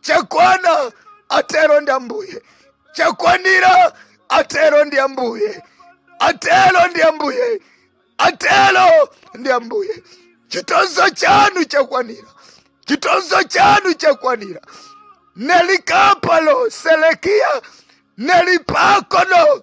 chakwana atero ndi ambuye chakwanira atero ndi ambuye atero ndi ambuye atero ndi ambuye chitonzo chanu chakwanira chitonzo chanu chakwanira nelikapalo selekiya nelipakono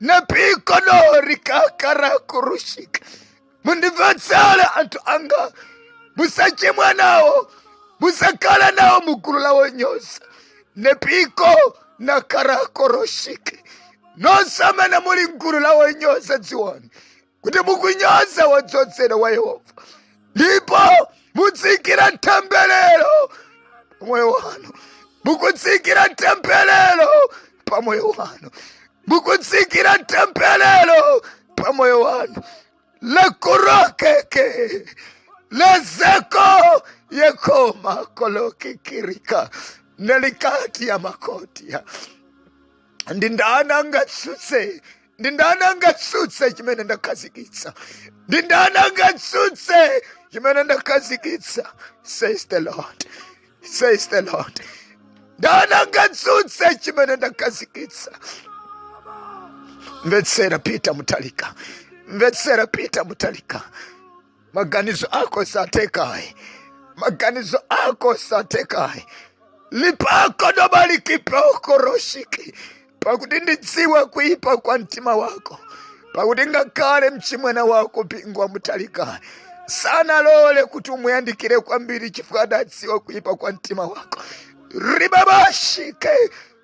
nepikonori kakarakurushika mundimvetsere anthu anga musachimwe nawo musakhala nawo mugulu la wonyoza nepiko nakarakurushika nonse amene muli mgulu la wonyoza dziwani kuti mukunyoza wodzozedwa wa Yehova ndipo mutsikira temberero pamoyo wanu mukutsikira temberero pamoyo wanu mukutsikira temberero pamoyo wanu lakurokeke lezeko yekoma kolokikirika nelikati ya makoti ya ndi ndani angatsutse ndi ndani angatsutse chimene ndakhazikitsa ndi ndani angatsutse chimene ndakhazikitsa says the lord says the lord ndani angatsutse chimene ndakhazikitsa mvetsera Peter Mutharika mvetsera Peter Mutharika Maganizo ako satheka ayi, maganizo ako satheka ayi lipako dobalikipokoroshiki pakuti ndidziwa kuipa kwa mtima wako pakuti ngakhale mchimwene wako Bingu wa Mutharika sanalole kuti umuyandikire kwambiri chifukwa adadziwa kuipa kwa mtima wako ribabashike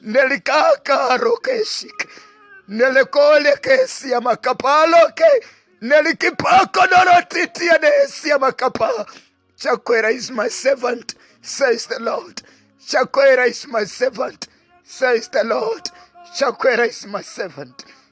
nelikakarokeesik nelekolekeesia makapaloke nelikipakonorotitiya neesia makapa chakwera is my servant says the lord chakwera is my servant says the lord chakwera is my servant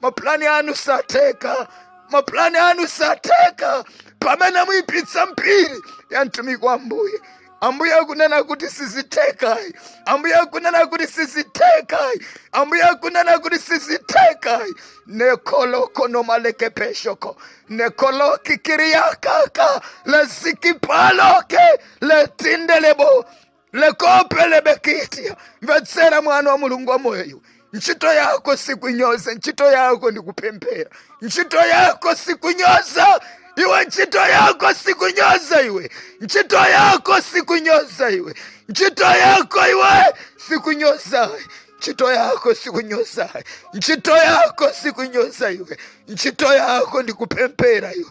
mapulani anu satheka mapulani anu satheka pamene muyipitsa mbiri ya mtumiki wa ambuye ambuye akunena kuti sizithekayi ambuye akunena kuti sizithekayi ambuye akunena kuti sizithekayi nekoloko nomalekepeshoko nekoloki kiriyakaka lesikipaloke letindelebo lekopelebekitia mvetsera mwana wa mulungu wamoyo iwe ntchito yako sikunyoza ntchito yako ndi kupemphera ntchito yako sikunyoza iwe ntchito yako sikunyoza iwe ntchito yako sikunyoza iwe ntchito yako iwe sikunyoza ayi ntchito yako sikunyoza ayi ntchito yako sikunyoza iwe ntchito yako ndi kupemphera iwe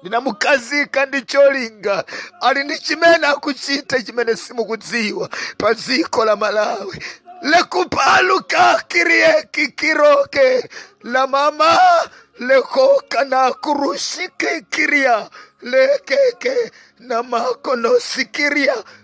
ndinamukhazika ndi cholinga ali ndi chimene akuchita chimene simukudziwa pa dziko la Malawi lekupaluka kirieki kiroke la mama lekoka na kurushike kiria lekeke na makonosikiria